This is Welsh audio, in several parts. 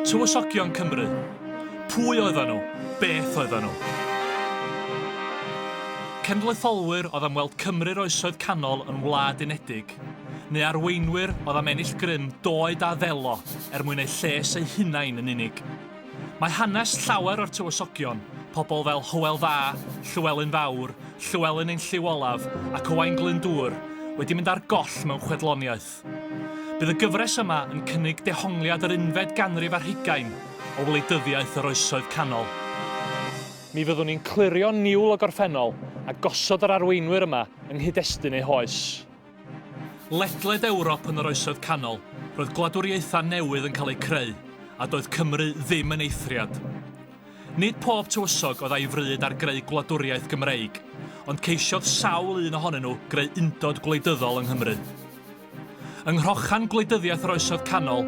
Tywysogion Cymru. Pwy oedden nhw? Beth oedden nhw? Cenedlaetholwyr oedd am weld Cymru'r Oesoedd Canol yn wlad unedig, neu arweinwyr oedd am ennill grym doed a ddelo er mwyn eu lles eu hunain yn unig. Mae hanes llawer o'r Tywysogion, pobl fel Hywel Dda, Llywelyn Fawr, Llywelyn ein Llyw Olaf ac Owain Glyndŵr, wedi mynd ar goll mewn chwedloniaeth. Bydd y gyfres yma yn cynnig dehongliad yr unfed ganrif ar hugain o wleidyddiaeth yr Oesoedd Canol. Mi fyddwn ni'n clirio niwl y gorffennol a gosod yr arweinwyr yma yng nghyd-destun eu hoes. Ledled Ewrop yn yr Oesoedd Canol, roedd gwladwriaethau newydd yn cael eu creu, a doedd Cymru ddim yn eithriad. Nid pob tywysog oedd a'i fryd ar greu gwladwriaeth Gymreig, ond ceisiodd sawl un ohonyn nhw greu undod gwleidyddol yng Nghymru. Yng nghrochan gwleidyddiaeth yr Oesoedd Canol,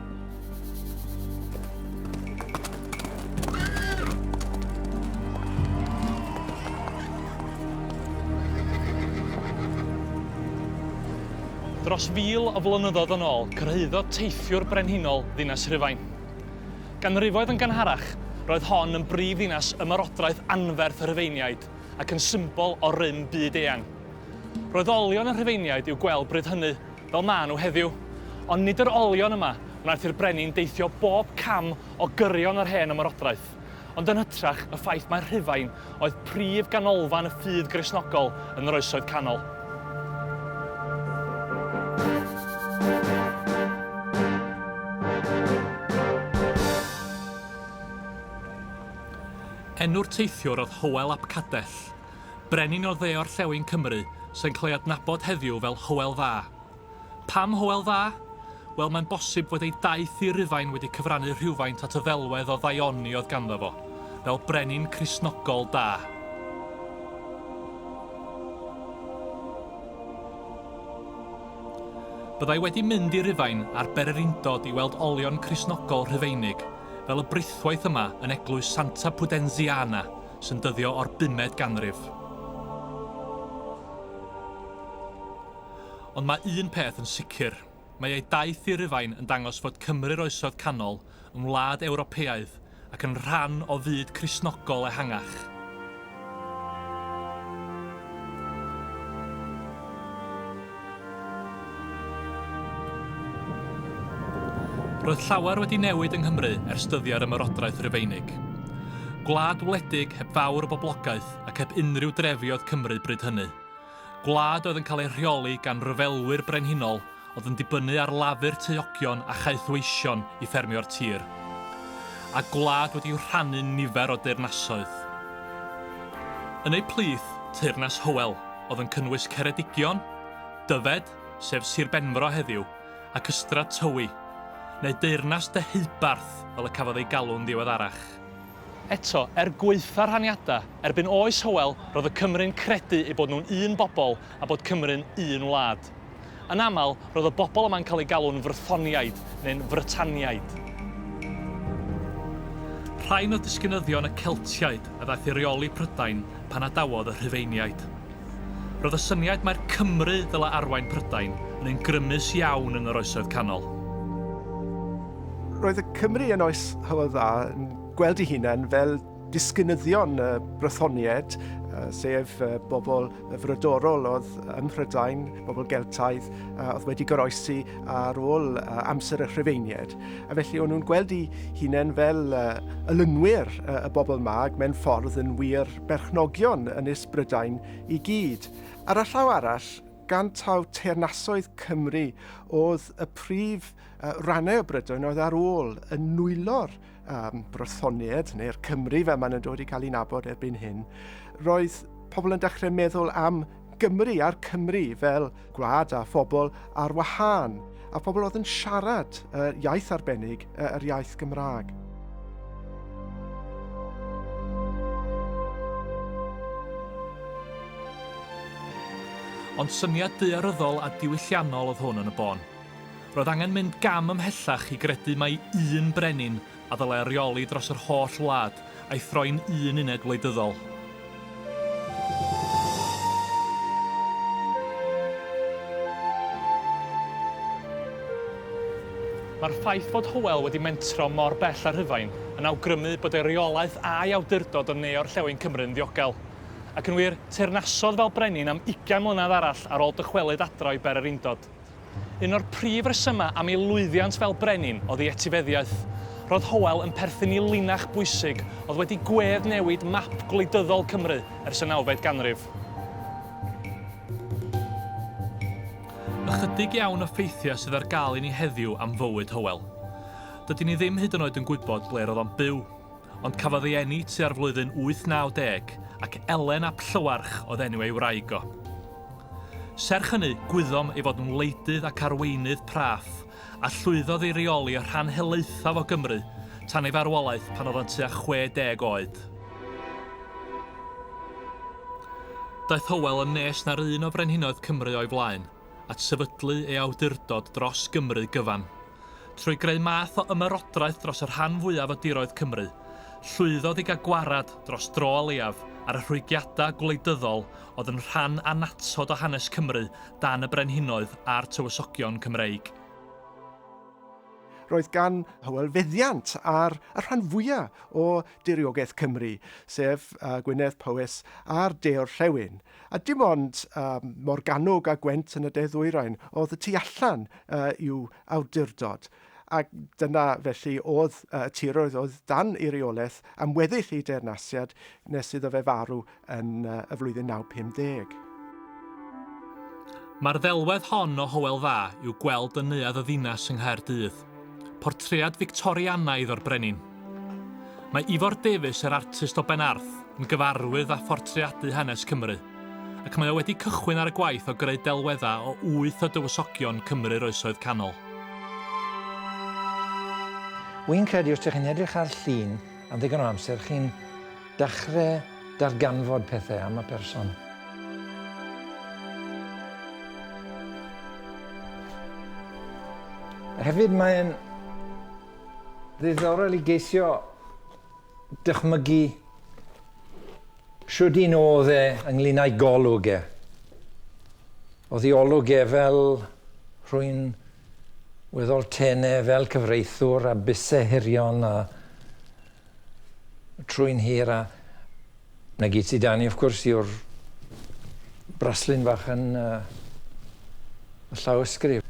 Dros fil o flynyddoedd yn ôl, cyrhaeddodd teithiwr brenhinol ddinas Rhufain. Ganrifoedd yn ganharach, roedd hon yn brif ddinas ymarodraeth anferth y Rhufeiniaid ac yn symbol o rym byd eang. Roedd olion y Rhufeiniaid i'w gweld bryd hynny fel maen nhw heddiw. Ond nid yr olion yma wnaeth i'r brenin deithio bob cam o gyrion yr hen ymerodraeth, ond yn hytrach y ffaith mai Rhufain oedd prif ganolfan y ffydd Gristnogol yn yr Oesoedd Canol. Enw'r teithiwr oedd Hywel ap Cadell, brenin o dde-orllewin Cymru sy'n cael ei adnabod heddiw fel Hywel Dda. Pam Hywel Dda? Wel, mae'n bosib fod ei daith i Rufain wedi cyfrannu rhywfaint at y ddelwedd o ddaioni oedd ganddo fo, fel brenin Cristnogol da. Byddai wedi mynd i Rufain ar bererindod i weld olion Cristnogol Rhufeinig, fel y brithwaith yma yn eglwys Santa Pudenziana, sy'n dyddio o'r bumed ganrif. Ond mae un peth yn sicr, mae ei daith i Rufain yn dangos fod Cymru'r Oesoedd Canol yn wlad Ewropeaidd ac yn rhan o fyd Cristnogol ehangach. Roedd llawer wedi newid yng Nghymru ers dyddiau'r Ymerodraeth Rufeinig. Gwlad wledig, heb fawr o boblogaeth ac heb unrhyw drefi oedd Cymru bryd hynny. Gwlad oedd yn cael ei rheoli gan ryfelwyr brenhinol oedd yn dibynnu ar lafur teuogion a chaethweision i ffermio'r tir. A gwlad wedi'u rhannu'n nifer o deyrnasoedd. Yn eu plith, Teyrnas Hywel. oedd yn cynnwys Ceredigion, Dyfed, sef Sir Benfro heddiw, ac Ystrad Tywi, neu Deyrnas Deheubarth fel y cafodd ei galw'n ddiweddarach. Eto, er gwaetha' rhaniadau, erbyn oes Hywel roedd y Cymry'n credu eu bod nhw'n un bobl a bod Cymru'n un wlad. Yn aml, roedd y bobl yma'n cael eu galw'n Frythoniaid neu'n Frytaniaid. Rhain oedd disgynyddion y Celtiaid a ddaeth i reoli Prydain pan adawodd y Rhufeiniaid. Roedd y syniad mai'r Cymry ddylai arwain Prydain yn un grymus iawn yn yr Oesoedd Canol. Roedd y Cymry yn oes Hywel Dda yn gweld eu hunain fel disgynyddion y Brythoniaid, sef bobl frodorol oedd ym Mhrydain, bobl Geltaidd, oedd wedi goroesi ar ôl amser y Rhufeiniaid. A felly o'n nhw'n gweld i hunain fel ylunwyr y bobl mag mewn ffordd yn wir berchnogion yn is Brydain i gyd. Ar y llaw arall, gan taw teyrnasoedd Cymru oedd y prif rannau o Brydain oedd ar ôl yn nwylo'r um, Brythoniaid, neu'r Cymry fel maen nhw'n dod i cael ei nabod erbyn hyn, roedd pobl yn dechrau meddwl am Gymru a'r Cymru fel gwlad a phobl ar wahân, a phobl oedd yn siarad uh, iaith arbennig, uh, yr iaith Gymraeg. Ond syniad daearyddol a diwylliannol oedd hwn yn y bôn. Roedd angen mynd gam ymhellach i gredu mai un brenin a ddylai reoli dros yr holl wlad, a'i throi'n un uned wleidyddol. Mae'r ffaith fod Hywel wedi mentro mor bell â Rhufain yn awgrymu bod ei reolaeth a'i awdurdod yn ne-orllewin Cymru'n ddiogel. Ac yn wir, teyrnasodd fel brenin am ugain mlynedd arall ar ôl dychwelyd adra o'i ber yr undod. Un o'r prif resymau am ei lwyddiant fel brenin oedd ei etifeddiaeth. Roedd Howell yn perthyn i linach bwysig oedd wedi gwedd newid map gwleidyddol Cymru ers y nawfed ganrif. Ychydig iawn o ffeithiau sydd ar gael i ni heddiw am fywyd Howell. Dydyn ni ddim hyd yn oed yn gwybod ble roedd o'n byw. Ond cafodd ei eni tua'r flwyddyn 890 ac Elen ap Llywarch oedd enw ei wraig o. Serch hynny, gwyddom ei fod yn wleidydd ac arweinydd praff, a llwyddodd i reoli y rhan helaethaf o Gymru tan ei farwolaeth pan oedd yn tua 60 oed. Daeth Hywel yn nes na'r un o frenhinoedd Cymru o'i flaen. at sefydlu ei awdurdod dros Gymru gyfan. Trwy greu math o ymerodraeth dros y rhan fwyaf o diroedd Cymru, llwyddodd i gael gwared, dros dro o leiaf, ar y rhwygiadau gwleidyddol oedd yn rhan annatod o hanes Cymru dan y brenhinoedd a'r tywysogion Cymreig. Roedd gan Hywel feddiant ar y rhan fwyaf o diriogaeth Cymru, sef Gwynedd, Powys a'r de-orllewin. A dim ond Morgannwg a Gwent yn y de-ddwyrain oedd y tu allan i'w awdurdod, ac dyna felly oedd y tiroedd oedd dan ei reolaeth am weddill ei deyrnasiad nes iddo fe farw yn y flwyddyn 950. Mae'r ddelwedd hon o Hywel Dda i'w gweld yn Neuadd y Ddinas yng Nghaerdydd. Portread Fictorianaidd o'r brenin. Mae Ifor Davies, yr artist o Benarth, yn gyfarwydd â phortreadu hanes Cymru, ac mae o wedi cychwyn ar y gwaith o greu delweddau o wyth o dywysogion Cymru'r Oesoedd Canol. Wi'n credu os dych chi'n edrych ar llun am ddigon o amser chi'n Dechrau darganfod pethau am y person. Hefyd mae'n ddiddorol i geisio dychmygu shwd un oedd e ynglyn â'i golwg e. Oedd ei olwg e fel rhwy'n weddol tenau, fel cyfreithwr a buse hirion a trwy'n hir a 'na gyd sy 'da ni wrth gwrs yw'r braslun fach yn y llawysgrif.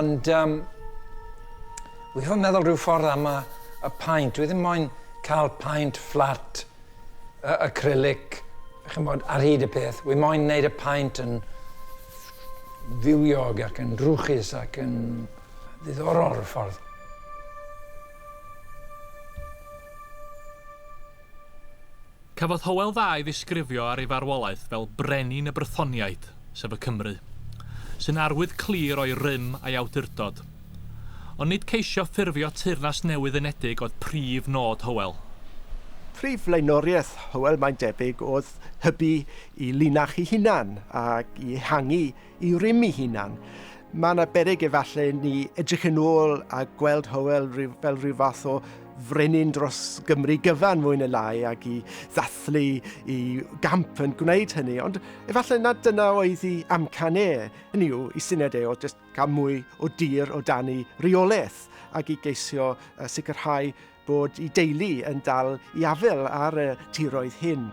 Ond um, wi fod meddwl rhyw ffordd am y, y paint. Dwi ddim moyn cael paint fflat uh, acrylic, chymod, ar hyd y peth. Wi moyn wneud y paint yn fywiog ac yn drwchus ac yn ddiddorol rhyw ffordd. Cafodd Hywel Dda ei ddisgrifio ar ei farwolaeth fel 'brenin y Brythoniaid', sef y Cymry, sy'n arwydd clir o'i rym a'i awdurdod. Ond nid ceisio ffurfio teyrnas newydd unedig oedd prif nod Hywel. Prif flaenoriaeth Hywel mae'n debyg oedd hybu i linach ei hunan ac i ehangu i rym ei hunan. Mae yna berig efallai ni edrych yn ôl a gweld Hywel fel rhyw fath o frenin dros Gymru gyfan mwy neu lai ac i ddathlu i gamp yn gwneud hynny. Ond efallai na dyna oedd i amcan e, hynny yw i syniad e o just cael mwy o dir o dan ei reolaeth ac i geisio sicrhau bod y deulu yn dal i afael ar y tiroedd hyn.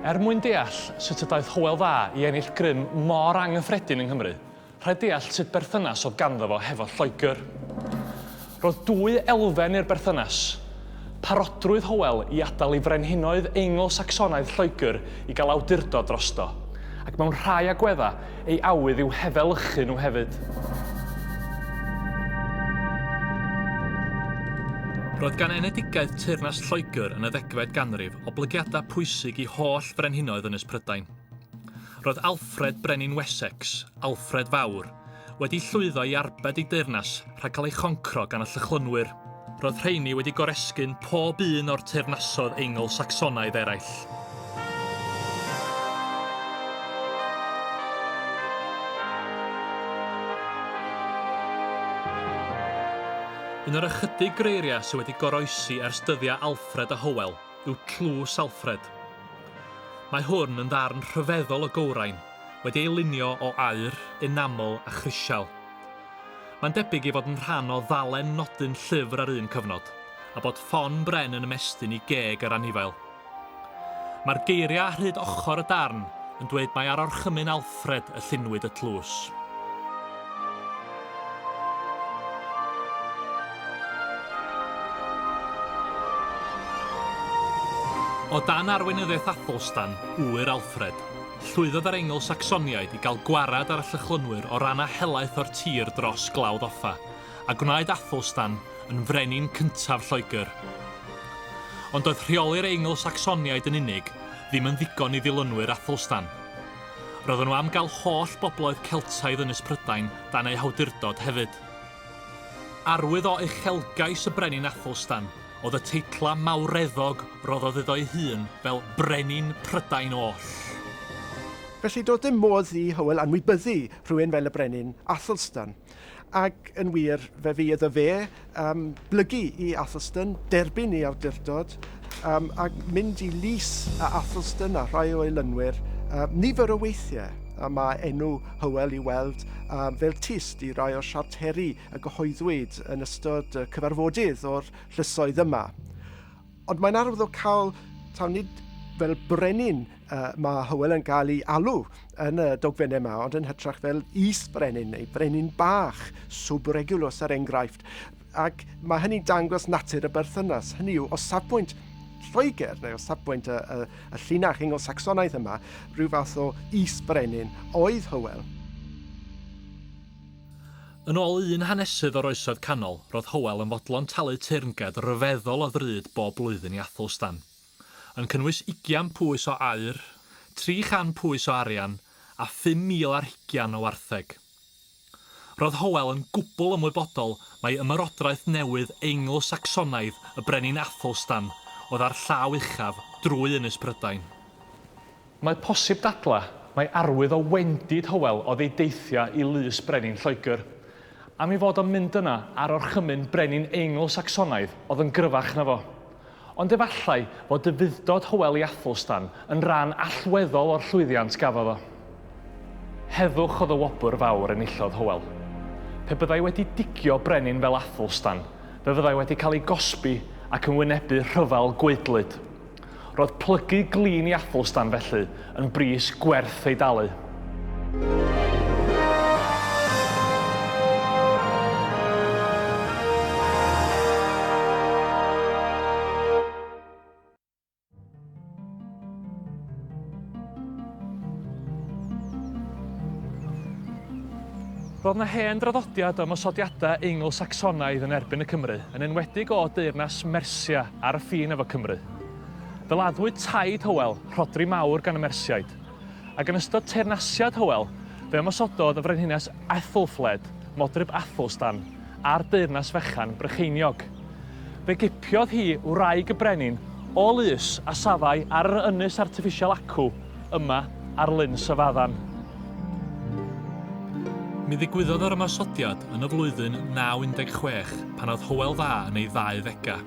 Er mwyn deall sut y daeth Hywel Dda i ennill grym mor anghyffredin yng Nghymru, Rhaid deall sut berthynas oedd ganddo fo hefo Lloegr. Roedd dwy elfen i'r berthynas, parodrwydd Hywel i adael i frenhinoedd Eingl-Sacsonaidd Lloegr i gael awdurdod drosto, ac mewn rhai agweddau, ei awydd i'w hefelychu nhw hefyd. Roedd gan enedigaeth teyrnas Lloegr yn y ddegfed ganrif oblygiadau pwysig i holl frenhinoedd Ynys Prydain. Roedd Alfred, brenin Wessex, Alfred Fawr, wedi llwyddo i arbed ei deyrnas rhag cael ei choncro gan y Llychlynwyr. Roedd rheiny wedi goresgyn pob un o'r teyrnasoedd Eingl-Sacsonaidd eraill. Un o'r ychydig greiriau sydd wedi goroesi ers dyddiau Alfred a Hywel, yw Tlws Alfred. Mae hwn yn ddarn rhyfeddol o gywrain, wedi ei lunio o aur, enamel a chrisial. Mae'n debyg ei fod yn rhan o ddalen nodyn llyfr ar un cyfnod, a bod ffon bren yn ymestyn i geg yr anifail. Mae'r geiriau ar hyd ochr y darn yn dweud mai ar orchymyn Alfred y llunwyd y tlws. O dan arweinyddiaeth Athelstan, ŵyr Alfred, llwyddodd yr Eingl-Sacsoniaid i gael gwared ar y Llychlynwyr o ran a helaeth o'r tir dros Glawdd Offa, a gwnaed Athelstan yn frenin cyntaf Lloegr. Ond doedd rheoli'r Eingl-Sacsoniaid yn unig ddim yn ddigon i ddilynwyr Athelstan. Roedden nhw am gael holl bobloedd Celtaidd Ynys Prydain dan eu hawdurdod hefyd. Arwydd o uchelgais y Brenin Athelstan oedd y teitlau mawreddog roddodd iddo'i hun fel 'Brenin Prydain Oll'. Felly doedd dim modd i Hywel anwybyddu rhywun fel y Brenin Athelstan. Ac yn wir, fe fu iddo fe um, blygu i Athelstan, derbyn ei awdurdod, um, a mynd i lys a Athelstan a rhai o'i lynwyr um, nifer o weithiau. A mae enw Hywel i weld um, fel tyst i rai o'r siarteri a gyhoeddwyd yn ystod y cyfarfodydd o'r llysoedd yma. Ond mae'n arwyddocaol taw nid fel brenin uh, mae Hywel yn cael ei alw yn y dogfennau yma, ond yn hytrach fel is-brenin neu brenin bach, subregulus ar er enghraifft. Ac mae hynny'n dangos natur y berthynas. Hynny yw, o safbwynt Lloegr, neu o safbwynt y, y, y llinach Ingl-Saxonaidd yma, rhyw fath o is-brenin oedd Hywel. Yn ôl un hanesydd o'r Oesoedd Canol, roedd Hywel yn fodlon talu teyrnged ryfeddol o ddrud bob blwyddyn i Athelstan, yn cynnwys ugian pwys o aur, tri chan pwys o arian, a phum mil ar hugian o wartheg. Roedd Hywel yn gwbl ymwybodol mai ymerodraeth newydd Eingl-Sacsonaidd y brenin Athelstan oedd â'r llaw uchaf drwy Ynys Prydain. Mae posib dadlau mai arwydd o wendid Hywel oedd ei deithiau i lys brenin Lloegr. Am ei fod o'n mynd yna ar orchymyn brenin Eingl-Sacsonaidd oedd yn gryfach na fo. Ond efallai fod dyfuddod Hywel i Athelstan yn ran allweddol o'r llwyddiant gafodd o. Heddwch oedd y wobr fawr enillodd Hywel. Pe byddai wedi digio brenin fel Athelstan, fe fyddai wedi cael ei gosbi ac yn wynebu rhyfel gwaedlyd. Roedd plygu glin i Athelstan, felly, yn bris gwerth ei dalu. Roedd yna hen draddodiad o ymosodiadau Eingl-Sacsonaidd yn erbyn y Cymry, yn enwedig o deyrnas Mersia, Ar y ffin efo Cymru. Fe laddwyd taid Hywel, Rhodri Mawr, gan y Mersiaid. Ac yn ystod teyrnasiad Hywel, fe ymosododd y Frenhines Aethelfled, modryb Athelstan, ar deyrnas fechan Brycheiniog. Fe gipiodd hi wraig y brenin o lys a safai ar yr ynys artiffisial acw, yma ar Lyn Syfaddan. Mi ddigwyddodd yr ymosodiad yn y flwyddyn 916 pan oedd Hywel Dda yn ei ddauddegau.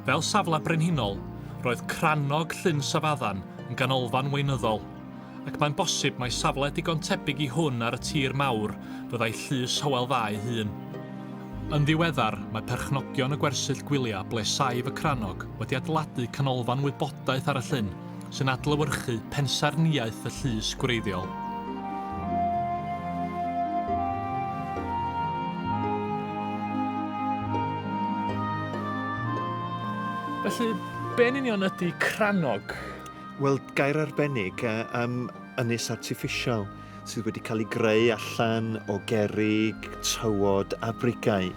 Fel safle brenhinol, roedd Crannog Llyn Syfaddan yn ganolfan weinyddol, ac mae'n bosib mai safle digon tebyg i hwn ar y tir mawr fyddai llys Hywel Dda ei hun. Yn ddiweddar, mae perchnogion y gwersyll gwyliau ble saif y Crannog wedi adeiladu canolfan wybodaeth ar y llyn, sy'n adlewyrchu pensaernïaeth y llys gwreiddiol. Felly, be'n union ydy crannog? Wel, gair arbennig, um, ynys artiffisial. sydd wedi cael ei greu allan o gerig, tywod a brigau.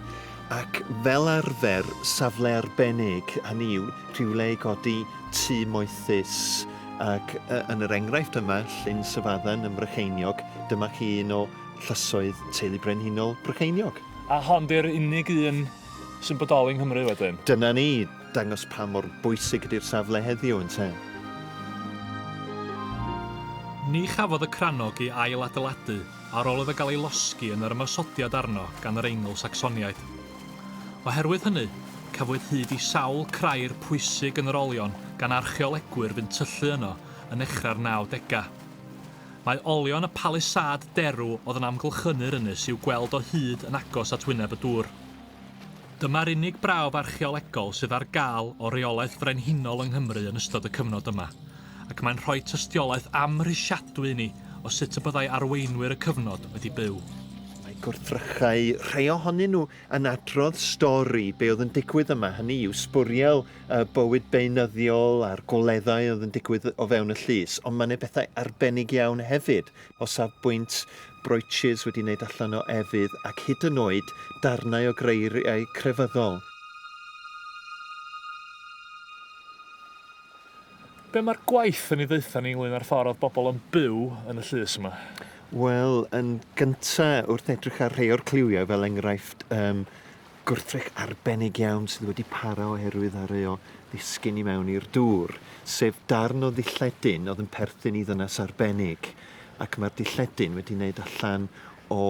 Ac fel arfer, safle arbennig, hynny yw rhywle i godi tŷ moethus. Ac yn yr enghraifft yma, Llyn Syfaddan ym Mrycheiniog, dyma chi un o llysoedd teulu brenhinol Brycheiniog. A hon di'r unig un sy'n bodoli yng Nghymru wedyn? Dyna ni. dangos pa mor bwysig ydy'r safle heddiw, ynte? Ni chafodd y crannog ei ail-adeiladu ar ôl iddo gael ei losgi yn yr ymosodiad arno gan yr Eingl-Sacsoniaid. Oherwydd hynny, cafwyd hyd i sawl crair pwysig yn yr olion gan archeolegwyr fu'n tyllu yno yn nechrau'r nawdegau. Mae olion y palisâd derw oedd yn amgylchynu'r ynys i'w gweld o hyd yn agos at wyneb y dŵr. Dyma'r unig brawf archeolegol sydd ar gael o reolaeth frenhinol yng Nghymru yn ystod y cyfnod yma, ac mae'n rhoi tystiolaeth amhrisiadwy i ni o sut y byddai arweinwyr y cyfnod wedi byw. Mae gwrthrychau rhai ohonyn nhw yn adrodd stori be oedd yn digwydd yma, hynny yw, sbwriel y bywyd beunyddiol a'r goleddau oedd yn digwydd o fewn y llys, ond mae yna bethau arbennig iawn hefyd, o safbwynt brooches wedi wneud allan o efydd ac hyd yn oed darnau o greiriau crefyddol. Be mae'r gwaith yn ei ddaetha ni ynglŷn â'r ffordd oedd bobl yn byw yn y llys yma? Wel, yn gynta', wrth edrych ar rhei o'r cliwiau, fel enghraifft, yym, Gwrthrych arbennig iawn sydd wedi para oherwydd areo ddisgyn i mewn i'r dŵr, sef darn o ddilledyn oedd yn perthyn i ddynas arbennig, ac mae'r dilledyn wedi wneud allan o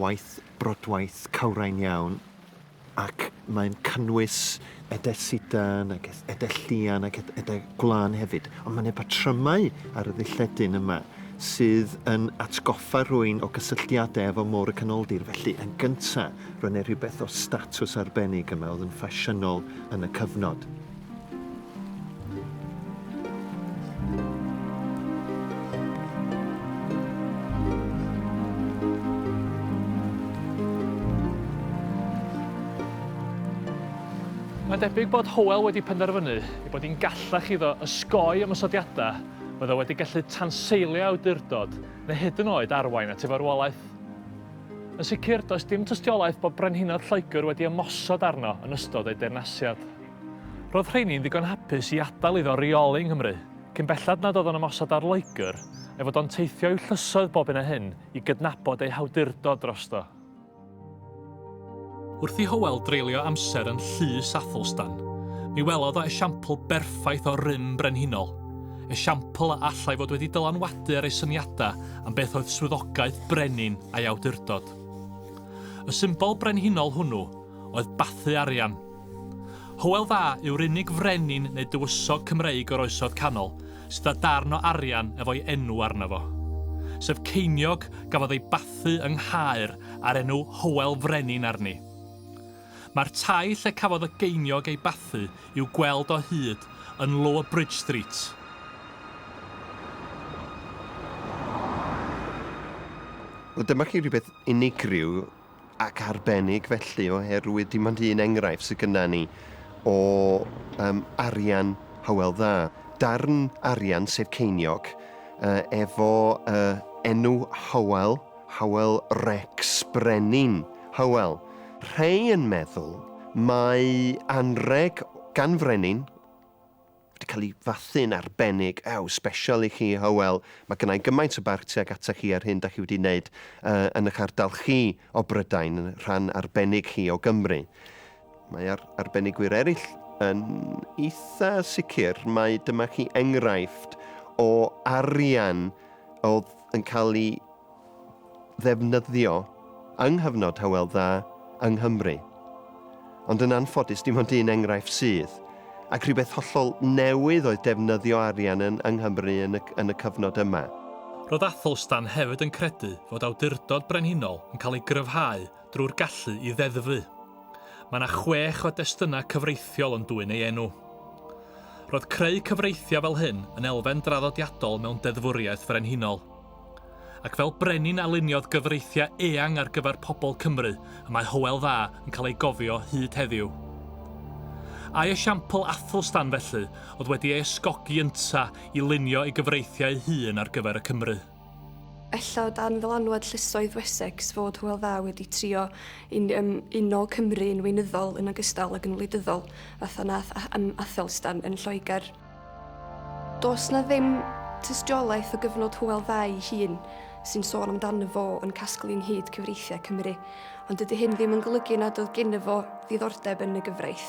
waith brodwaith cawrain iawn, ac mae'n cynnwys edell sidan ac edell llian ac edell gwlân hefyd, ond mae yna batrymau ar y ddilledyn yma sydd yn atgoffa rhywun o gysylltiadau efo Môr y Canoldir, felly yn gyntaf Roedd yna rhywbeth o statws arbennig yma oedd yn ffasiynol yn y cyfnod. Mae'n debyg bod Howell wedi penderfynu ei bod hi'n gallach iddo ysgoi ymosodiadau oedd o wedi gallu tanseilio awdurdod neu hyd yn oed arwain at ei farwolaeth. Yn sicr, does dim tystiolaeth bod Brenhinod Lloegr wedi ymosod arno yn ystod ei deyrnasiad. Roedd rheini'n ddigon hapus i adael iddo reoli yng Nghymru, cyn belled nad oedd o'n ymosod ar Loegr, a'i fod o'n teithio i'w llysoedd bob hyn a hyn i gydnabod ei hawdurdod drosto. Wrth i Hywel dreulio amser yn Llys Athelstan, mi welodd o esiampl berffaith o rym brenhinol, esiampl a allai fod wedi dylanwadu ar ei syniadau am beth oedd swyddogaeth brenin a'i awdurdod. Y symbol brenhinol hwnnw oedd bathu arian. Hywel Dda yw'r unig frenin neu dywysog Cymreig o'r Oesoedd Canol sydd â darn o arian efo'i enw arno fo. Sef ceiniog gafodd ei bathu yng Nghaer a'r enw Hywel Frenin arni. Mae'r tai lle cafodd y geiniog ei bathu i'w gweld o hyd yn Lower Bridge Street. Wel, dyma chi rhywbeth unigryw ac arbennig felly, oherwydd dim ond un enghraifft sydd gyda ni o um, arian Hywel Dda. Darn arian, sef ceiniog, uh, efo uh, enw Hywel Hywel Rex Brenin, Hywel, rhei yn meddwl mai anrheg gan frenin wedi cael ei fathu'n arbennig, ew, sbesial i chi, Hywel, mae gynna i gymaint o barch tuag ata chi ar hyn da chi wedi wneud uh, yn eich ardal chi o Brydain, yn rhan arbennig chi o Gymru. Mae ar arbenigwyr eraill yn eitha sicr, mae dyma chi enghraifft o arian oedd yn cael ei ddefnyddio yng nghyfnod Hywel Dda yng Nghymru. Ond yn anffodus dim ond un enghraifft sydd, ac rhywbeth hollol newydd oedd defnyddio arian yn yng Nghymru yn y yn y cyfnod yma. Roedd Athelstan hefyd yn credu fod awdurdod brenhinol yn cael ei gryfhau drwy'r gallu i ddeddfu. Mae yna chwech o destynnau cyfreithiol yn dwyn ei enw. Roedd creu cyfreithiau fel hyn yn elfen draddodiadol mewn deddfwriaeth frenhinol. Ac fel brenin a luniodd gyfreithiau eang ar gyfer pobl Cymru y mae Hywel Dda yn cael ei gofio hyd heddiw. Ai esiampl Athelstan, felly, oedd wedi ei ysgogi ynta i lunio ei gyfreithiau ei hun ar gyfer y Cymry? Ella o dan ddylanwad llysoedd Wessex fod Hywel Dda wedi trio i um, uno Cymru yn weinyddol yn ogystal ag yn wleidyddol, fatha nath um, Athelstan yn Lloegr. Does na ddim tystiolaeth o gyfnod Hywel Dda ei hun sy'n sôn amdano fo yn casglu ynghyd cyfreithiau Cymru, ond dydy hyn ddim yn golygu nad oedd gen fo ddiddordeb yn y gyfraith.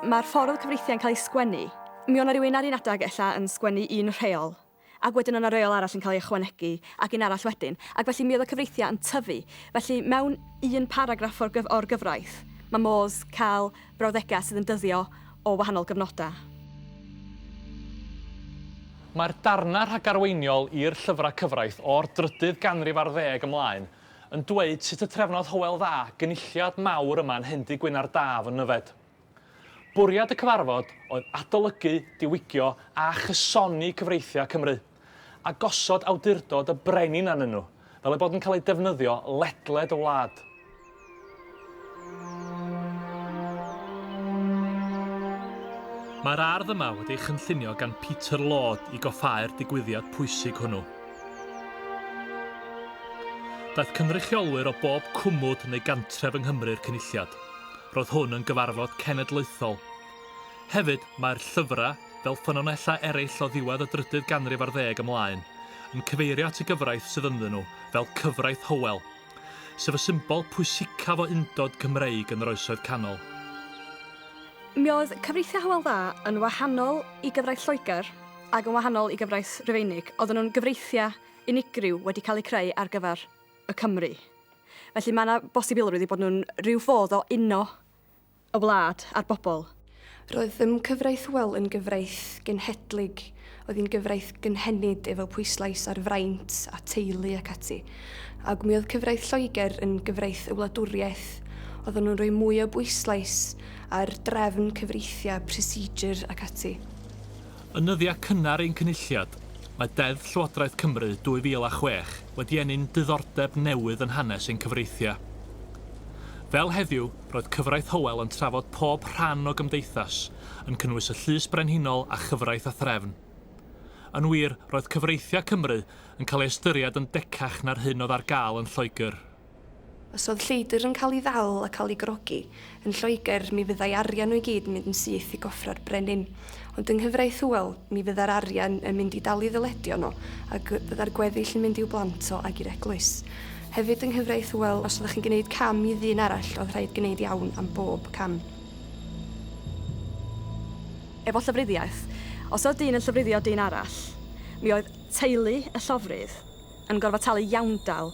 Mae'r ffordd oedd cyfreithiau'n cael eu sgwennu Mi o' 'na rywun ar un adeg ella yn sgwennu un rheol, ac wedyn o' 'na reol arall yn cael ei ychwanegu, ac un arall wedyn, ac felly mi oedd y cyfreithiau yn tyfu. Felly, mewn un paragraff o'r gyf- o'r gyfraith, mae modd cael brawddegau sydd yn dyddio o wahanol gyfnodau. Mae'r darnau rhagarweiniol i'r llyfrau cyfraith o'r drydydd ganrif ar ddeg ymlaen yn dweud sut y trefnodd Hywel Dda gynulliad mawr yma'n Hendy Gwynardd Daf yn Nyfed. Bwriad y cyfarfod oedd adolygu, diwygio a chysoni cyfreithiau Cymru, a gosod awdurdod y brenin arnyn nhw, fel eu bod yn cael eu defnyddio ledled y wlad. Mae'r ardd yma wedi ei chynllunio gan Peter Lord i goffáu'r digwyddiad pwysig hwnnw. Daeth cynrychiolwyr o bob cwmwd neu gantref yng Nghymru'r Cynulliad. roedd hwn yn gyfarfod cenedlaethol. Hefyd, mae'r llyfrau, fel ffynonellau eraill o ddiwedd y drydydd ganrif ar ddeg ymlaen, yn cyfeirio at y gyfraith sydd ynddyn nhw fel Cyfraith Hywel, sef y symbol pwysicaf o undod Cymreig yn yr Oesoedd Canol. Mi oedd cyfreithiau Hywel Dda yn wahanol i gyfraith Lloegr ac yn wahanol i gyfraith Rufeinig. Oedden nhw'n gyfreithiau unigryw wedi cael eu creu ar gyfer y Cymry. Felly mae yna bosibilrwydd i bod nhw'n rhyw fodd o uno y wlad a'r bobl. Roedd ym cyfraith Well yn gyfraith genhedlig, oedd hi'n gyfraith gynhenid efo pwyslais ar fraint a teulu ac ati, ac mi oedd cyfraith Lloegr yn gyfraith y wladwriaeth, oedden nhw'n rhoi mwy o bwyslais ar drefn, cyfreithiau, procedure ac ati. Yn nyddiau cynnar ein Cynulliad, mae Deddf Llywodraeth Cymru 2006 wedi ennyn diddordeb newydd yn hanes ein cyfreithiau. Fel heddiw, roedd Cyfraith Hywel yn trafod pob rhan o gymdeithas, yn cynnwys y Llys Brenhinol a Chyfraith a Threfn. Yn wir, roedd cyfreithiau Cymru yn cael ei ystyried yn decach na'r hyn oedd ar gael yn Lloegr. Os oedd lleidr yn cael ei ddal a cael ei grogi yn Lloegr, mi fyddai arian nhw i gyd yn mynd yn syth i goffra'r brenin. Ond yng nghyfraith Hywel, mi fyddai'r arian yn mynd i dalu ddyledion nhw, a fyddai'r gweddill yn mynd i'w blant o ag i'r eglwys. Hefyd yng nghyfraith Hywel, os oeddech chi'n gwneud cam i ddyn arall, oedd rhaid gwneud iawn am bob cam. Efo llofruddiaeth, os oedd dyn yn llofruddio dyn arall, mi oedd teulu y llofrudd yn gorfod talu iawndal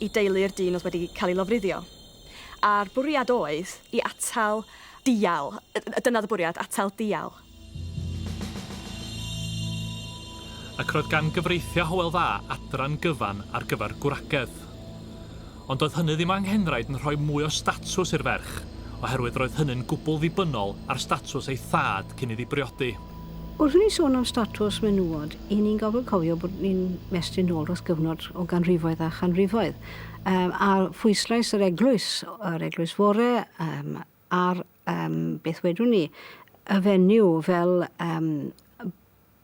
i deulu'r dyn oedd wedi cael ei lofruddio. A'r bwriad oedd i atal dial. Dyna oedd y bwriad, atal dial. Ac roedd gan gyfreithiau Hywel Dda adran gyfan ar gyfer gwragedd. Ond doedd hynny ddim anghenraid yn rhoi mwy o statws i'r ferch, oherwydd roedd hynny'n gwbl ddibynnol ar statws ei thad cyn iddi briodi. Wrth i ni sôn am statws menywod, i ni'n gorfod cofio bod ni'n mestyn nôl dros gyfnod o ganrifoedd a chanrifoedd, um, a phwyslais yr eglwys, yr eglwys fore, um, ar, um, beth wedwn ni, y fenyw fel um,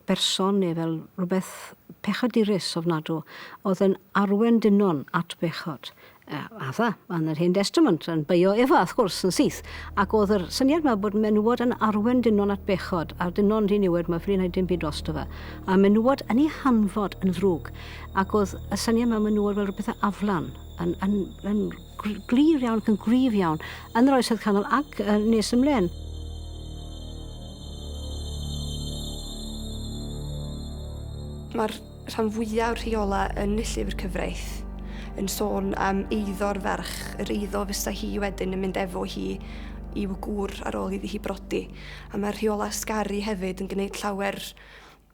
berson neu fel rhywbeth pechadurus ofnadw, oedd yn arwen dynon at bechod. Efa, yn yr Hen Destament, yn beio Efa, wrth gwrs, yn syth. Ac oedd yr syniad yma bod menywod yn arwen dynon at bechod, a'r dynon yn ddiniwed, mae ffri'n ei dim byd drosto fe. A menywod yn ei hanfod yn ddrwg. Ac oedd y syniad yma menywod fel rhywbeth a aflan, yn, yn, yn glir iawn, yn gryf iawn, yn yr oesoedd canol ac nes ymlaen. Mae'r rhan fwyaf rheolau yn Llyfr Cyfraith, yn sôn am eiddo'r ferch, yr eiddo fysa hi wedyn yn mynd efo hi i'w gŵr ar ôl iddi hi brodi. A mae'r rheolau sgari hefyd yn gwneud llawer,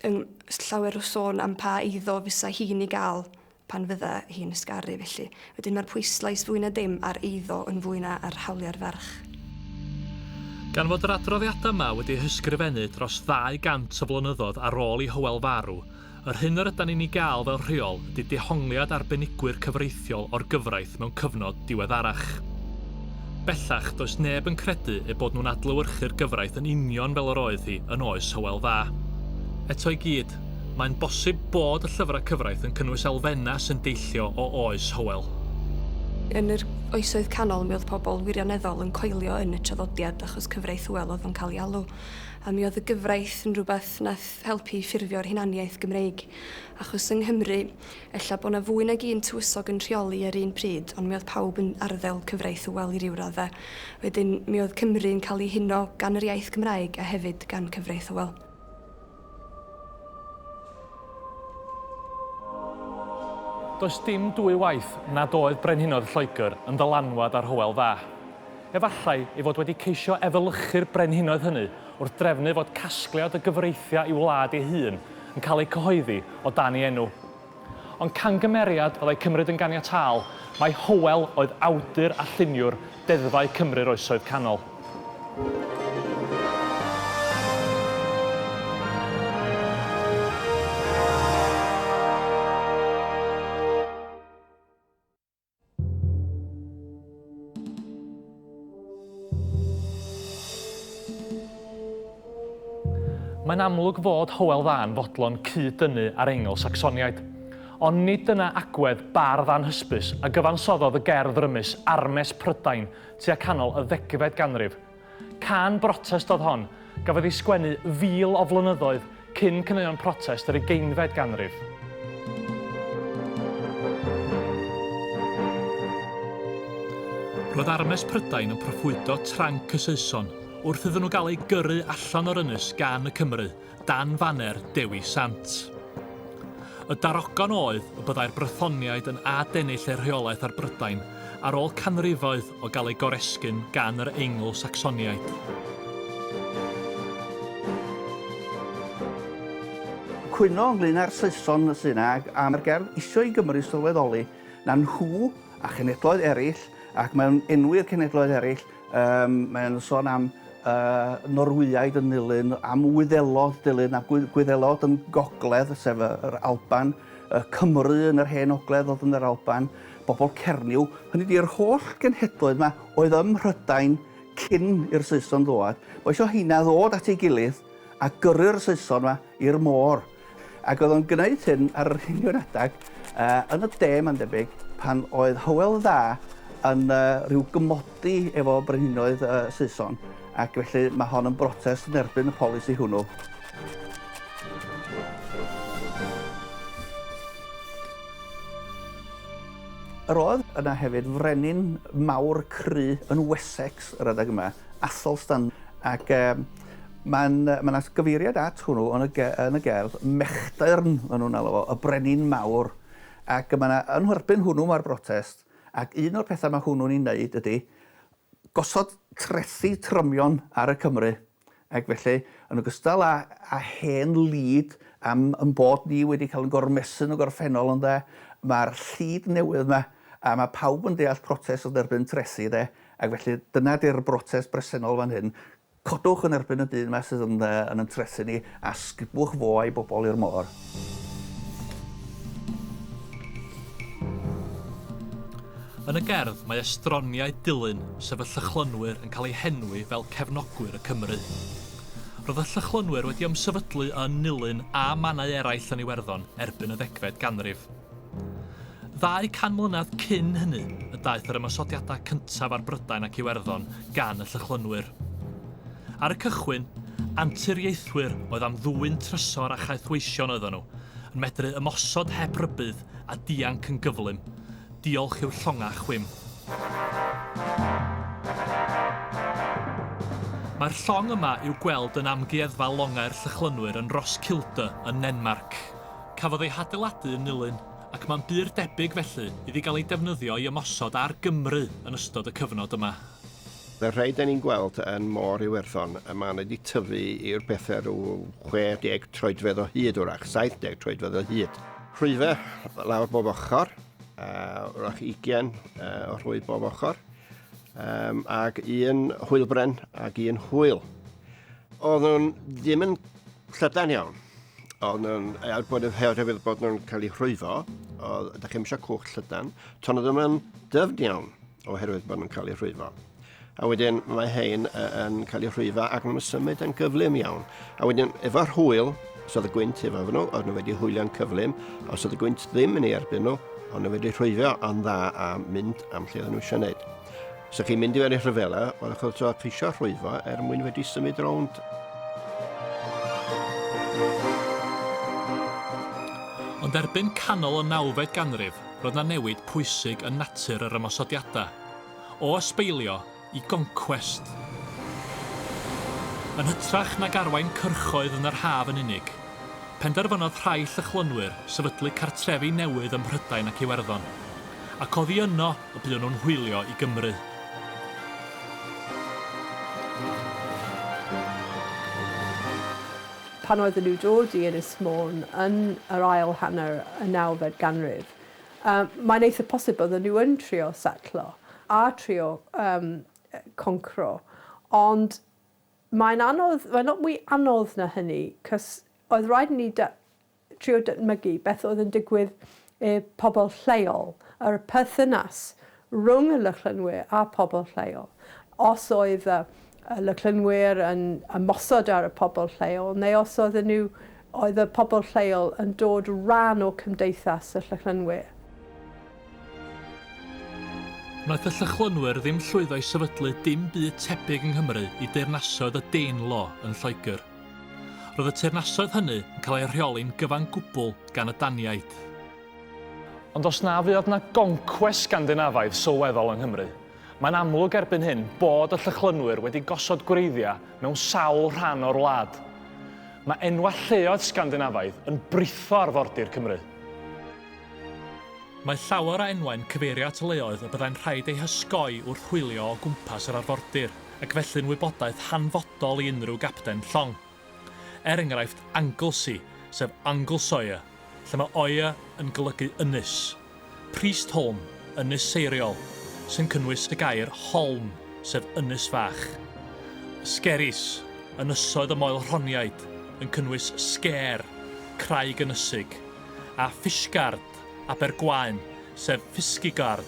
yn, llawer o sôn am pa eiddo fysa hi'n ei gael pan fydda hi'n ysgaru felly. Wedyn mae'r pwyslais fwy na dim ar eiddo yn fwy na ar hawliau'r ferch. Gan fod yr adroddiadau yma wedi'u hysgrifennu dros 200 o flynyddoedd ar ôl i Hywel farw, yr hyn yr ydan ni'n ei gael fel rheol ydy dehongliad arbenigwyr cyfreithiol o'r gyfraith mewn cyfnod diweddarach. Bellach, does neb yn credu eu bod nhw'n adlewyrchu'r gyfraith yn union fel yr oedd hi yn oes Hywel Dda. Eto i gyd, mae'n bosib bod y llyfrau cyfraith yn cynnwys elfennau sy'n deillio o oes Hywel. Yn yr Oesoedd Canol mi oedd pobl wirioneddol yn coelio yn y traddodiad achos cyfraith Hywel oedd yn cael ei alw, a mi oedd y gyfraith yn rhywbeth nath helpu i ffurfio'r hunaniaeth Gymreig. Achos yng Nghymru, ella bod 'na fwy nag un tywysog yn rheoli ar un pryd, ond mi oedd pawb yn arddel cyfraith Hywel i ryw radde. Wedyn, mi oedd Cymru yn cael ei huno gan yr iaith Gymraeg a hefyd gan cyfraith Hywel. Does dim dwy waith nad oedd brenhinoedd Lloegr yn ddylanwad ar Hywel Dda. Efallai ei fod wedi ceisio efelychu'r brenhinoedd hynny wrth drefnu fod casgliad o gyfreithiau i'w wlad ei hun yn cael eu cyhoeddi o dan ei enw. Ond cangymeriad fyddai cymryd yn ganiataol mai Hywel oedd awdur a lluniwr deddfau Cymru'r Oesoedd Canol. Mae'n amlwg fod Hywel Dda yn fodlon cyd-dynnu â'r Eingl Sacsoniaid. Ond nid dyna agwedd bardd anhysbys a gyfansoddodd y gerdd rymus Armes Prydain tua canol y ddegfed ganrif, Cân brotest oedd hon, gafodd ei sgwennu fil o flynyddoedd cyn caneuon protest yr ugeinfed ganrif. Roedd armes Prydain yn proffwydo tranc y Saeson wrth iddyn nhw gael eu gyrru allan o'r ynys gan y Cymry, dan faner Dewi Sant. Y darogan oedd y byddai'r Brythoniaid yn adennill eu rheolaeth ar Brydain ar ôl canrifoedd o gael eu goresgyn gan yr Eingl-Sacsoniaid. Cwyno ynglŷn â'r Saeson sy'n ag am yr gerdd isio i Gymru sylweddoli na nhw a chenedloedd eraill, ac mewn enwi'r cenedloedd eraill, Yym, mae o'n sôn am yy Norwyaidd yn nilyn, am Wyddelod dilyn a Gwy- Gwyddelod yn gogledd, sef y yr Alban, y Cymry yn yr hen ogledd o'dd yn yr Alban, bobol Cernyw, hynny ydi yr holl genhedloedd 'ma oedd ym Mhrydain cyn i'r Saeson ddwad, ma' isio 'heina ddod at ei gilydd a gyrru'r Saeson 'ma i'r môr. Ac oedd o'n gwneud hyn ar yr union adeg yn y de, mae'n debyg, pan oedd Hywel Dda yn rhyw gymodi efo brenhinoedd y Saeson, ac felly mae hon yn brotest yn erbyn y polisi hwnnw. Yr oedd yna hefyd frenin mawr cry yn Wessex yr adeg yma, Athelstan, ac Mae'n, mae 'na gyfeiriad at hwnnw yn y ge- yn y gerdd, mechdyrn ma' nhw'n alw fo, y brenin mawr, ac mae 'na, yn nhwyrbyn hwnnw mae'r brotest, ac un o'r pethau mae hwnnw'n ei wneud ydy gosod trethi trymion ar y Cymry, ac felly, yn ogystal â â hen lid am ein bod ni wedi cael ein gormesu yn y gorffennol ynde, mae'r llid newydd 'ma, a mae pawb yn deall protest yn erbyn trethi de, ac felly dyna 'di'r brotest bresennol fan hyn. Codwch yn erbyn y dyn 'ma sydd yn yy yn yn trethu ni, a sgubwch fo a'i bobl i'r môr. Yn y gerdd, mae estroniau dilyn sef y Llychlynwyr yn cael eu henwi fel cefnogwyr y Cymry. Roedd y Llychlynwyr wedi ymsefydlu yn Nulyn a mannau eraill yn Iwerddon erbyn y ddegfed ganrif. Ddau can mlynedd cyn hynny y daeth yr ymosodiadau cyntaf ar Brydain ac Iwerddon gan y Llychlynwyr. Ar y cychwyn, anturiaethwyr oedd am ddwyn trysor a chaethweision oeddon nhw, yn medru ymosod heb rybudd a dianc yn gyflym, diolch i'w llongau chwim. Mae'r llong yma i'w gweld yn Amgueddfa Longau'r Llychlynwyr yn Roskilde yn Nenmarc. Cafodd ei hadeiladu yn Nulyn, ac mae'n bur debyg felly iddi gael ei defnyddio i ymosod ar Gymru yn ystod y cyfnod yma. Fel rhai da ni'n gweld yn Môr Iwerddon, y man wedi tyfu i'r bethe rhyw 60 troedfedd o hyd wrach, 70 troedfedd o hyd. Rhwyfe lawr bob ochr, a wrach ugian o rhwyf bob ochr, um, ag un hwylbren ag un hwyl. Oedden nhw'n ddim yn llydan iawn. Ond yn, er bod yn her hefyd bod nhw'n cael eu rhwyfo, o, da chi'n eisiau cwch llydan, ton o ddim yn dyfn iawn oherwydd bod nhw'n cael eu rhwyfo. A wedyn mae hein yn cael eu rhwyfo ac nhw'n symud yn gyflym iawn. A wedyn efo'r hwyl, os oedd y gwynt efo nhw, oedd nhw wedi hwylio'n cyflym, os oedd y gwynt ddim yn ei erbyn nhw, ond nhw wedi rhwyfio yn dda a mynd am lle oedd nhw eisiau gwneud. Sa chi'n mynd i fewn i rhyfela, ond o'ch chi'n tro ceisio rhwyfo er mwyn wedi symud rownd. Ond erbyn canol y nawfed ganrif, roedd na newid pwysig yn natur yr ymosodiadau, o ysbeilio i goncwest. Yn hytrach nag arwain cyrchoedd yn yr haf yn unig, penderfynodd rhai Llychlynwyr sefydlu cartrefi newydd ym Mhrydain ac Iwerddon, ac oddi yno y buon nhw'n hwylio i Gymru. Pan oedden nhw'n dod i Ynys Môn yn yr ail hanner y nawfed ganrif, mae'n eitha posib bydden nhw yn trio setlo a trio concro, ond mae'n anodd, mae'n lot mwy anodd na hynny, cos oedd rhaid i ni trio dychmygu beth oedd yn digwydd i pobl lleol, yr perthynas rhwng y Lychlynwyr a phobl lleol. Os oedd y y Lychlynwyr yn ymosod ar y pobl lleol, neu os oedden nhw, oedd y pobl lleol yn dod rhan o cymdeithas y Llychlynwyr. Wnaeth y Llychlynwyr ddim llwyddo i sefydlu dim byd tebyg yng Nghymru i deyrnasoedd y Danelaw yn Lloegr. Roedd y teyrnasoedd hynny yn cael eu rheoli'n gyfan gwbl gan y Daniaid. Ond os na fuodd yna goncwest Sgandinafaidd sylweddol yng Nghymru, mae'n amlwg erbyn hyn bod y Llychlynwyr wedi gosod gwreiddiau mewn sawl rhan o'r wlad. Mae enwau lleoedd Sgandinafaidd yn britho arfordir Cymru. Mae llawer o enwau'n cyfeirio at leoedd y byddai'n rhaid eu hysgoi wrth hwylio o gwmpas yr arfordir. ac felly'n wybodaeth hanfodol i unrhyw gapten llong. Er enghraifft Anglesey, sef Anglesire, lle mae oer yn golygu ynys, Priestholm, ynys seiriol, sy'n cynnwys y gair holm, sef ynys fach, Skerries, ynysoedd y Moel-rhoniaid, yn cynnwys Sker, craig ynysig, a Fishguard, Abergwaun, sef Fiskygard,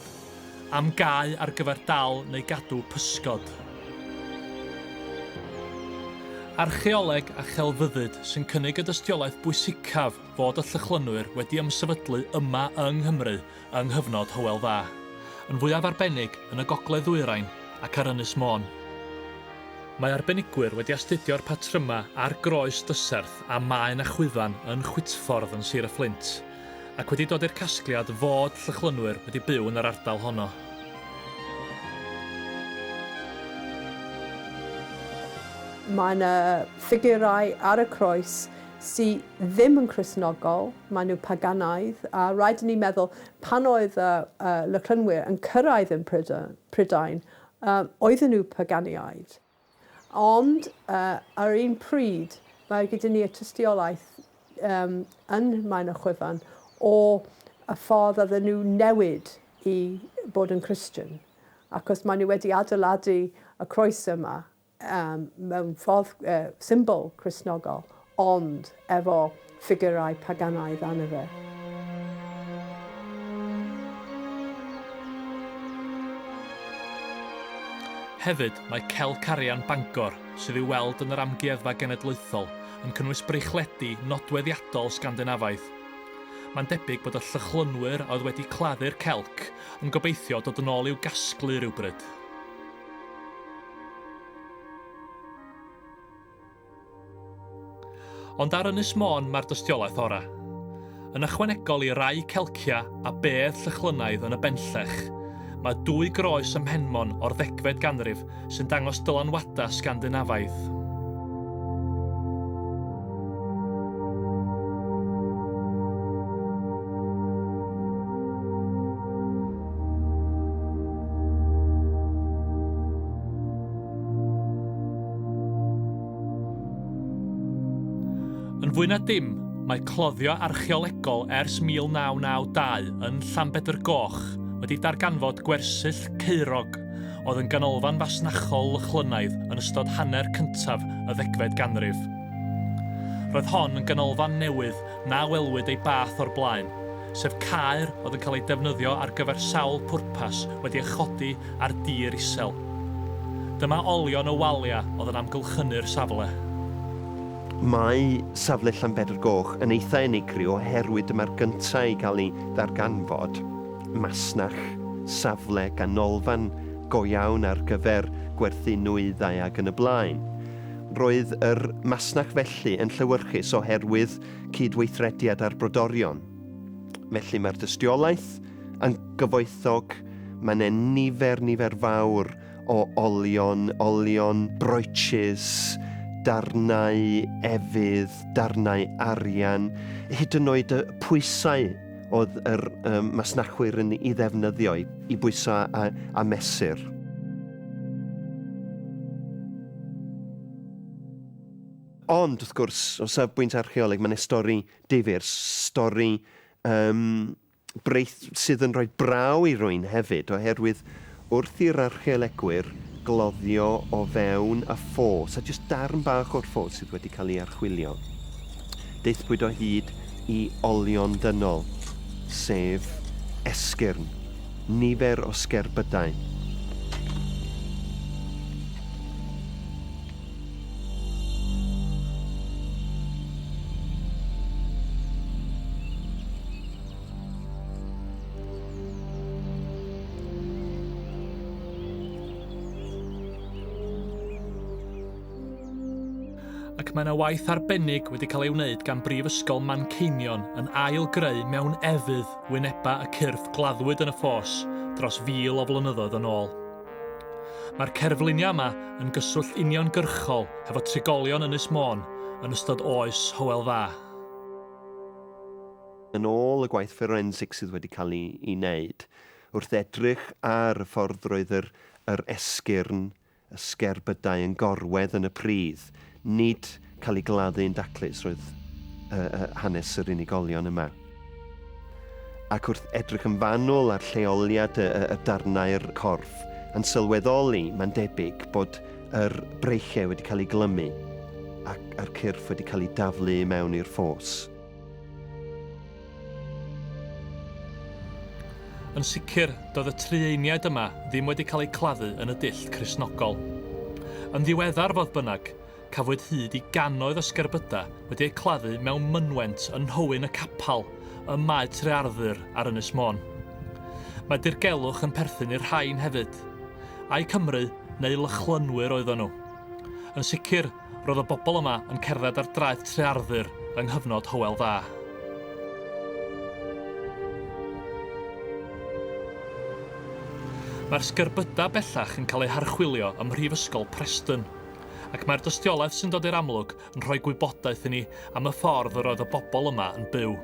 am gae ar gyfer dal neu gadw pysgod. Archeoleg a chelfyddyd sy'n cynnig y dystiolaeth bwysicaf fod y Llychlynwyr wedi ymsefydlu yma yng Nghymru yng nghyfnod Hywel Dda, yn fwyaf arbennig yn y gogledd-ddwyrain ac ar Ynys Môn. Mae arbenigwyr wedi astudio'r patrymau ar groes dyserth a maen a chwyfan yn Chwitffordd yn Sir y Fflint, ac wedi dod i'r casgliad fod Llychlynwyr wedi byw yn yr ardal honno. Mae yna ffigurau ar y croes sy ddim yn Cristnogol, maen nhw paganaidd, a rhaid i ni meddwl, pan oedd y Llychlynwyr yn cyrraedd yn Prydain, oedden nhw paganiaid. Ond ar un pryd, mae gyda ni y tystiolaeth yym yn Maen y Chwyfan o y ffordd oedden nhw newid i bod yn Christian, achos maen nhw wedi adeiladu y croes yma yym mewn ffordd yy symbol Cristnogol. ond efo ffigyrau paganaidd arno fe. Hefyd, mae Celc Arian Bangor, sydd i'w weld yn yr Amgueddfa Genedlaethol, yn cynnwys breichledu nodweddiadol Sgandinafaidd. Mae'n debyg bod y Llychlynwyr a oedd wedi claddu'r Celc yn gobeithio dod yn ôl i'w gasglu rywbryd. Ond ar Ynys Môn mae'r dystiolaeth ora'. Yn ychwanegol i rai celcia a bedd Llychlynaidd yn y Benllech, mae dwy groes ym Mhenmon o'r ddegfed ganrif sy'n dangos dylanwadau Sgandinafaidd. Yn fwy na dim, mae cloddio archeolegol ers 1992 yn Llanbedr Goch wedi darganfod gwersyll caerog oedd yn ganolfan fasnachol Lychlynaidd yn ystod hanner cyntaf y ddegfed ganrif. Roedd hon yn ganolfan newydd na welwyd ei bath o'r blaen, sef caer oedd yn cael ei defnyddio ar gyfer sawl pwrpas wedi ei chodi ar dir isel. Dyma olion y waliau oedd yn amgylchynu'r safle. Mae safle Llanbedr Goch yn eitha' unigryw oherwydd dyma'r gynta' i gael ei ddarganfod, masnach, safle, ganolfan go iawn ar gyfer gwerthu nwyddau ac yn y blaen. Roedd yr masnach felly yn llewyrchus oherwydd cyd-weithrediad â'r brodorion. Felly mae'r dystiolaeth yn gyfoethog, mae 'ne nifer, nifer fawr o olion, olion, brooches, darnau efydd, darnau arian, hyd yn oed y pwysau oedd yr um, masnachwyr yn ei ddefnyddio i, i bwysau a, a mesur. Ond, wrth gwrs, o safbwynt archeoleg, mae'n stori difyr, stori um, breith sydd yn rhoi braw i rwy'n hefyd, oherwydd wrth i'r archeolegwyr gloddio o fewn y ffos, a jyst darn bach o'r ffos sydd wedi cael ei archwilio. Deithpwyd o hyd i olion dynol, sef esgyrn. Nifer o sgerbydau. ac mae yna waith arbennig wedi cael ei wneud gan Brifysgol Manceinion yn ail-greu mewn efydd wynebau y cyrff gladdwyd yn y ffos dros fil o flynyddoedd yn ôl. Mae'r cerfluniau yma yn gyswllt uniongyrchol hefo trigolion Ynys Môn yn ystod oes Hywel Dda. Yn ôl y gwaith fforensig sydd wedi cael ei wneud, wrth edrych ar y ffordd roedd yr esgyrn y sgerbydau yn gorwedd yn y pridd, nid cael ei gladdu yn daclus roedd yy yy hanes yr unigolion yma. Ac wrth edrych yn fanwl ar lleoliad y, y, y darnau'r corff, yn sylweddoli, mae'n debyg, bod yr breichiau wedi cael eu glymu ac a'r cyrff wedi cael eu daflu mewn i'r ffos. Yn sicr, doedd y Trieiniaid yma ddim wedi cael eu claddu yn y dull Cristnogol. Yn ddiweddar, fodd bynnag, cafwyd hyd i gannoedd o sgerbydau wedi eu claddu mewn mynwent yn nhowyn y capel ym Mae Tre Arthur ar Ynys Môn. Mae dirgelwch yn perthyn i'r rhain hefyd. Ai Cymry neu Lychlynwyr oeddon nhw? Yn sicr, Roedd y bobl yma yn cerdded ar draeth Tre Arthur yng nghyfnod Hywel Dda. Mae'r sgerbydau bellach yn cael eu harchwilio ym Mhrifysgol Preston, ac mae'r dystiolaeth sy'n dod i'r amlwg yn rhoi gwybodaeth i ni am y ffordd yr oedd y bobl yma yn byw.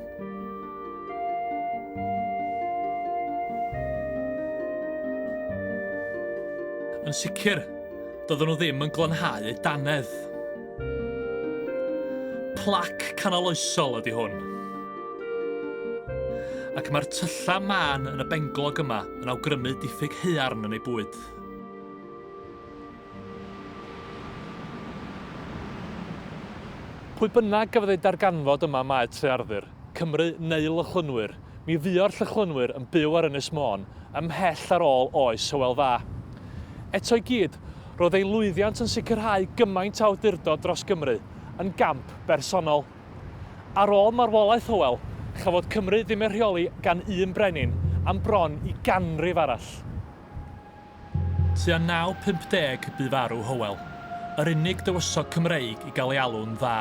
Yn sicr, doedden nhw ddim yn glanhau eu danedd. Plac canoloesol ydy hwn. Ac mae'r tyllau mân yn y benglog yma yn awgrymu diffyg haearn yn ei bwyd. Pwy bynnag gafodd eu darganfod yma mae Trearddur, Cymru neu Lychlynwyr, mi fuo'r Llychlynwyr yn byw ar Ynys Môn ymhell ar ôl oes Hywel Dda. Eto i gyd, roedd ei lwyddiant yn sicrhau gymaint o awdurdod dros Gymru, yn gamp bersonol. Ar ôl marwolaeth Hywel, chafodd Cymru ddim ei rheoli gan un brenin am bron i ganrif arall. Tua 950 bu farw Hywel, yr unig dywysog Cymreig i gael ei alw'n dda.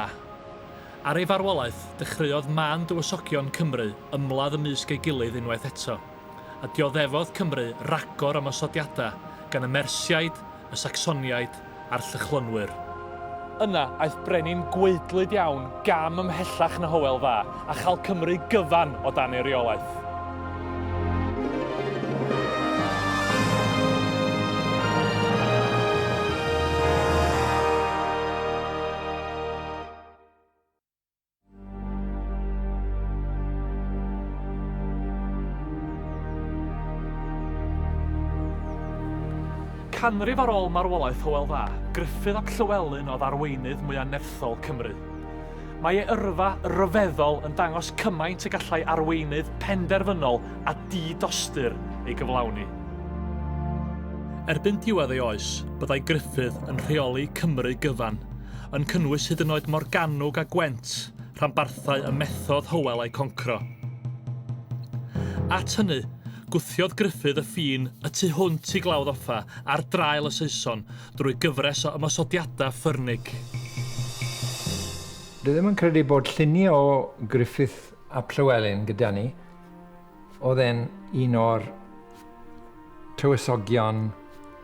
Ar ei farwolaeth, dechreuodd mân dywysogion Cymru ymladd ymysg ei gilydd unwaith eto, a dioddefodd Cymru ragor o ymosodiadau gan y Mersiaid, y Sacsoniaid, a'r Llychlynwyr. Yna, aeth brenin gwaedlyd iawn gam ymhellach na Hywel Dda, a châl Cymru gyfan o dan ei reolaeth. Canrif ar ôl marwolaeth Hywel Dda, Gruffydd ap Llywelyn oedd arweinydd mwyaf nerthol Cymru. Mae ei yrfa ryfeddol yn dangos cymaint y gallai arweinydd penderfynol a di-dostyr ei gyflawni. Erbyn diwedd ei oes, byddai Gruffydd yn rheoli Cymru gyfan, yn cynnwys hyd yn oed Morgannwg a Gwent, rhanbarthau y methodd Hywel eu concro. At hynny, gwthiodd Gruffydd y ffin y tu hwnt i Glawdd Offa ar draul y Saeson drwy gyfres o ymosodiadau ffyrnig. Dwi ddim yn credu bod lluniau o Gruffydd ap Llywelyn gyda ni, Oedd e'n un o'r tywysogion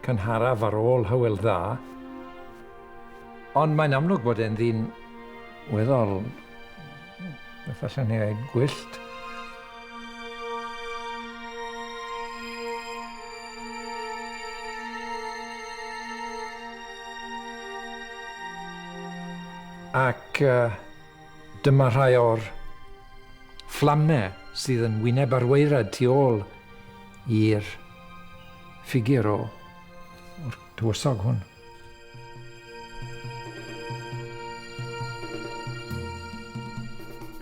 cynharaf ar ôl Hywel Dda, ond mae'n amlwg bod e'n ddyn weddol, beth allwn ni ddweud, gwyllt. Ac uh, Dyma rhai o'r fflamau sydd yn wyneb ar waerad tu ôl i'r ffigur o o'r tywysog hwn.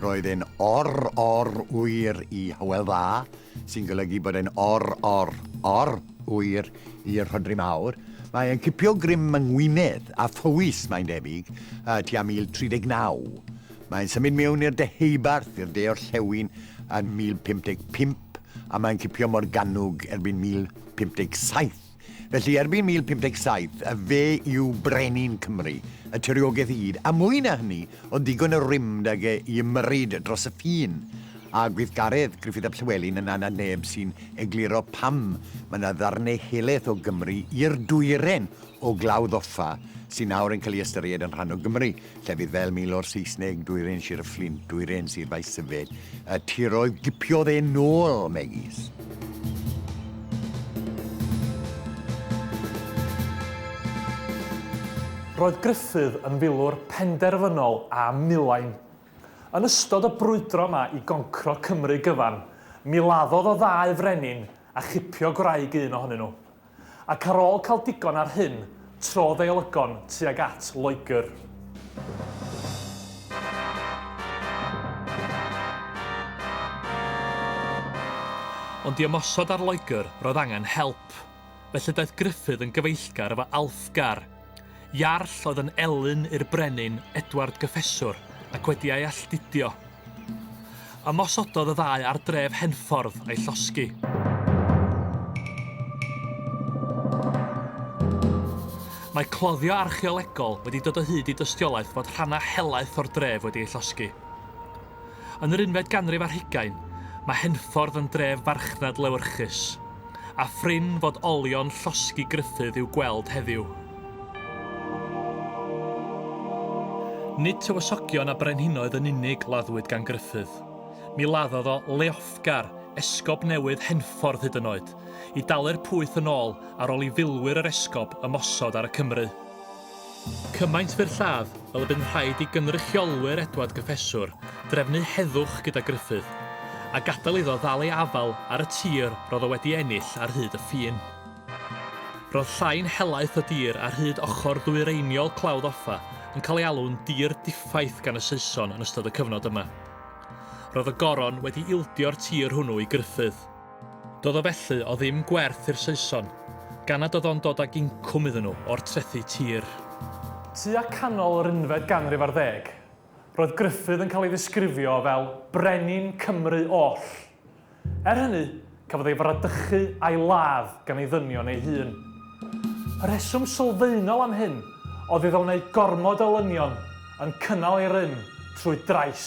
Roedd e'n or or ŵyr i Hywel Dda sy'n golygu bod e'n or, or, or hwyr i'r Rhodri Mawr. Mae e'n cipio grym yng Ngwynedd a Phowys, mae'n debyg, tua 1039. Mae'n symud mewn i'r Deheubarth, i'r de orllewin, yn 1055, a mae'n cipio mor gannwg erbyn 1057. Felly, erbyn 1057, a fe yw brenin Cymru, y tiriogaeth i gyd, a mwy na hynny, oedd ddigon o rymd ag e i ymyrryd dros y ffin, a gweithgaredd Gruffydd ap Llywelyn yn anad neb sy'n egluro pam mae 'na ddarnau helaeth o Gymru i'r dwyren o Glawdd Offa sy'n nawr yn cael ei ystyried yn rhan o Gymru. Llefydd fel Milwr Saesneg, Dwyrain Sir y Fflint, Dwyrain Sir Faesyfed, y tiroedd gipiodd e nôl, megis. Roedd Gruffydd yn filwr penderfynol a milain. Yn ystod y brwydro yma i goncro Cymru gyfan, miladdodd o ddau frenin a chipio gwraig un ohonyn nhw. ac ar ôl cael digon ar hyn, trodd ei olygon tuag at Loegr. Ond i ymosod ar Loegr, roedd angen help. Felly daeth Gruffydd yn gyfeillgar efo Alfgar, Iarll oedd yn elyn i'r brenin Edward Gyffeswr ac wedi ei alltudio. Ymosododd y ddau ar dref Henffordd a'i llosgi. Mae cloddio archeolegol wedi dod o hyd i dystiolaeth fod rhannau helaeth o'r dref wedi ei llosgi. Yn yr unfed ganrif ar hugain, mae Henffordd yn dref farchnad lewyrchus, a phrin fod olion llosgi Gruffudd i'w gweld heddiw. Nid tywysogion a brenhinoedd yn unig laddwyd gan Gruffudd. Mi laddodd o Leofgar, esgob newydd Henffordd hyd yn oed, i dalu'r pwyth yn ôl ar ôl i filwyr yr esgob ymosod ar y Cymry. Cymaint byr lladd fel y bu'n rhaid i gynrychiolwyr Edward Gyffeswr drefnu heddwch gyda Gruffydd, a gadael iddo ddal ei afael ar y tir roedd o wedi ennill ar hyd y ffin. Roedd llain helaeth y dir ar hyd ochr ddwyreiniol Clawdd Offa yn cael ei alw'n dir diffaith gan y Saeson yn ystod y cyfnod yma. Roedd y Goron wedi ildio'r tir hwnnw i Gruffydd. Doedd o felly o ddim gwerth i'r Saeson, gan nad oedd o'n dod ag incwm iddyn nhw o'r trethi tir. Tua canol yr unfed ganrif ar ddeg, roedd Gruffydd yn cael ei ddisgrifio fel 'brenin Cymru oll'. Er hynny, cafodd ei fradychu a'i ladd gan ei ddynion ei hun. Y rheswm sylfaenol am hyn oedd iddo wneud gormod o lynion yn cynnal ei rym trwy drais.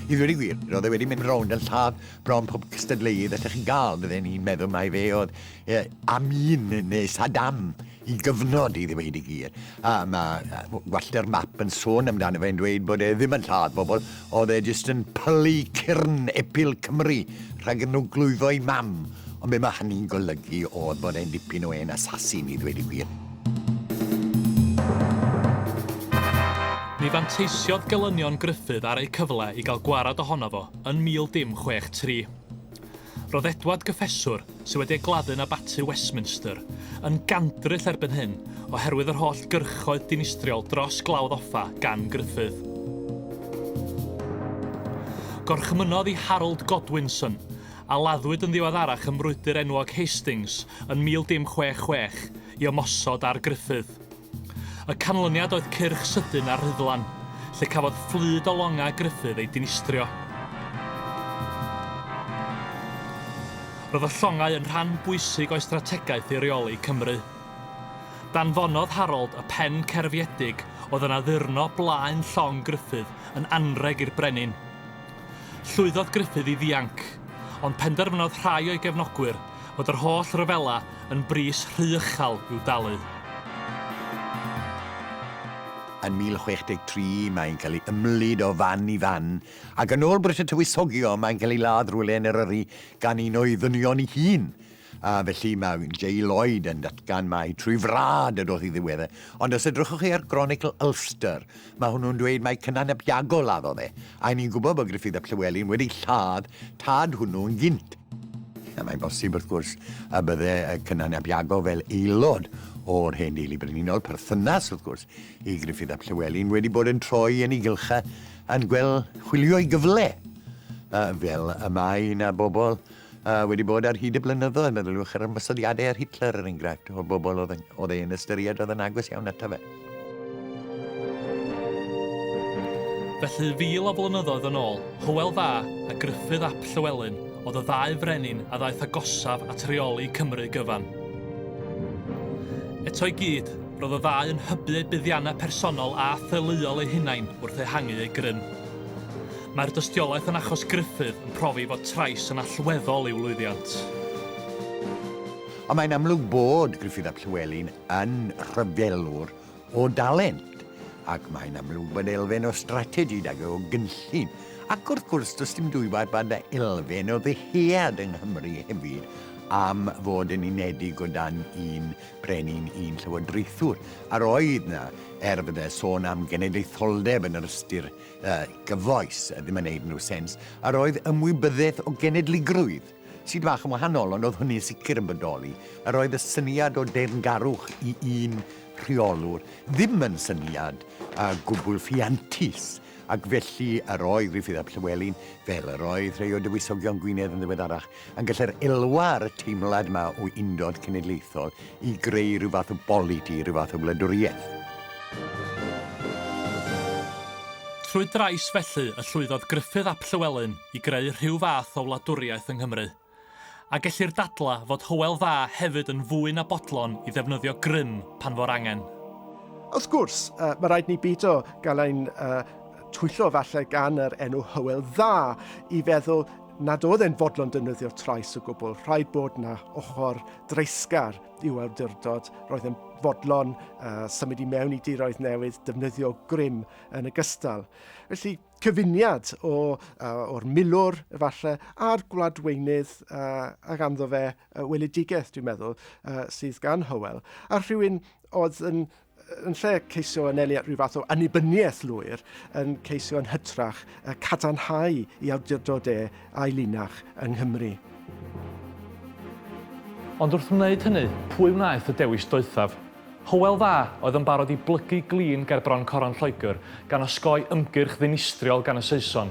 I ddweud y gwir, roedd e wedi mynd rownd yn lladd bron pob cystadleuydd allech chi gael, fydden i'n meddwl mai fe oedd e, Amin neu Saddam. Y cyfnod, i ddweud y gwir. A mae gwallter map yn sôn amdano fe'n dweud bod e ddim yn lladd pobl, oedd e jyst yn pylu cyrn epil Cymru rhag iddyn nhw glwyddo'i mam. Ond be mae hynny'n golygu oedd bod e'n dipyn o hen assassin, i ddweud y gwir. Ni fanteisiodd gelynion Gruffydd ar eu cyfle i gael gwared ohono fo yn 1063. Roedd Edward Gyffeswr, sydd wedi ei gladdu'n Abaty Westminster, yn gandryll erbyn hyn oherwydd yr holl gyrchoedd dinistriol dros Glawdd Offa gan Gruffydd. Gorchmynnodd i Harold Godwinson, a laddwyd yn ddiweddarach ym mrwydr enwog Hastings yn 1066, i ymosod ar Gruffydd. Y canlyniad oedd cyrch sydyn a rhuddlan, lle cafodd fflyd o longau Gruffydd ei dinistrio. Roedd y llongau yn rhan bwysig o'i strategaeth i reoli Cymru. Danfonodd Harold y pen cerfiedig oedd yn addurno blaen llong Gruffydd yn anrheg i'r brenin. Llwyddodd Gruffydd i ddianc, ond penderfynodd rhai o'i gefnogwyr fod yr holl ryfela yn bris rhy uchel i'w dalu. Yn 1063 mae'n cael ei ymlid o fan i fan, ac yn ôl Brut y Tywysogion mae'n cael ei ladd rywle yn Eryri gan un o'i ddynion ei hun. A felly mae Jay Lloyd yn datgan mai trwy frad y doth i ddiwedd e. Ond os edrychwch chi ar Gronicl Ulster, mae hwnnw'n dweud mai Cynan ap Iago laddodd e, a i ni'n gwybod bod Gruffydd ap Llywelyn wedi lladd tad hwnnw yn gynt. A mae'n bosib, wrth gwrs, y bydde Cynan ap Iago fel aelod o'r hen deulu brenhinol, perthynas, wrth gwrs, i Gruffydd ap Llywelyn, wedi bod yn troi yn ei gylchau yn gweld chwilio'i gyfle, fel y mae na bobl A wedi bod ar hyd y blynyddoedd, meddyliwch ar ymosodiadau ar Hitler, er enghraifft, o'r bobl oedd oedd ein ystyried oedd yn agos iawn ato fe. Felly, fil o flynyddoedd yn ôl, Hywel Dda a Gruffydd ap Llywelyn oedd y ddau frenin a ddaeth agosaf at reoli Cymru gyfan. Eto i gyd, roedd y ddau yn hybu eu buddiannau personol a theuluol eu hunain wrth ehangu eu grym. Mae'r dystiolaeth yn achos Gruffydd yn profi fod trais yn allweddol i'w lwyddiant. Ond mae'n amlwg bod Gruffydd ap Llywelyn yn rhyfelwr o dalent, ac mae'n amlwg bod elfen o strategi 'da fe o gynllun. Ac wrth gwrs, does dim dwywaith fod 'na elfen o ddyhead yng Nghymru hefyd am fod yn unedig o dan un brenin, un llywodraethwr. A'r oedd 'na, er fydde sôn am genedlaetholdeb yn yr ystyr y gyfoes ddim yn neud unrhyw sens, a roedd ymwybyddiaeth o genedligrwydd, sydd bach yn wahanol ond oedd hynny'n sicr yn bodoli, a roedd y syniad o deyrngarwch i un rheolwr ddim yn syniad a gwbl ffiantus, ac felly yr oedd Gruffydd ap Llywelyn, fel yr oedd rhai o dywysogion Gwynedd yn ddiweddarach, Yn gallu'r elwa ar y teimlad 'ma o undod cenedlaethol i greu rhyw fath o boliti, rhyw fath o wladwriaeth. Trwy drais felly y llwyddodd Gruffydd ap Llywelyn i greu rhyw fath o wladwriaeth yng Nghymru. A gellir dadlau fod Hywel Dda hefyd yn fwy na bodlon i ddefnyddio grym pan fo'r angen. Wrth gwrs, mae rhaid ni beidio gael ein twyllo falle gan yr enw Hywel Dda i feddwl nad oedd e'n fodlon defnyddio trais o gwbl. Rhaid bod na ochr dreisgar i'w awdurdod. Roedd yn fodlon uh, symud i mewn i diroedd newydd, defnyddio grym yn y gystal. Felly, cyfuniad o, uh, o'r milwr, efallai, a'r gwladweinydd uh, a ganddo fe uh, weledigaeth, dwi'n meddwl, uh, sydd gan Hywel, a rhywun oedd yn yn lle ceisio anelu at rhyw fath o annibyniaeth lwyr, yn ceisio yn hytrach y cadarnhau i awdurdod e a'i linach yng Nghymru. Ond wrth wneud hynny, pwy wnaeth y dewis doethaf? Hywel Dda oedd yn barod i blygu glin ger bron coron Lloegr, gan osgoi ymgyrch ddinistriol gan y Saeson.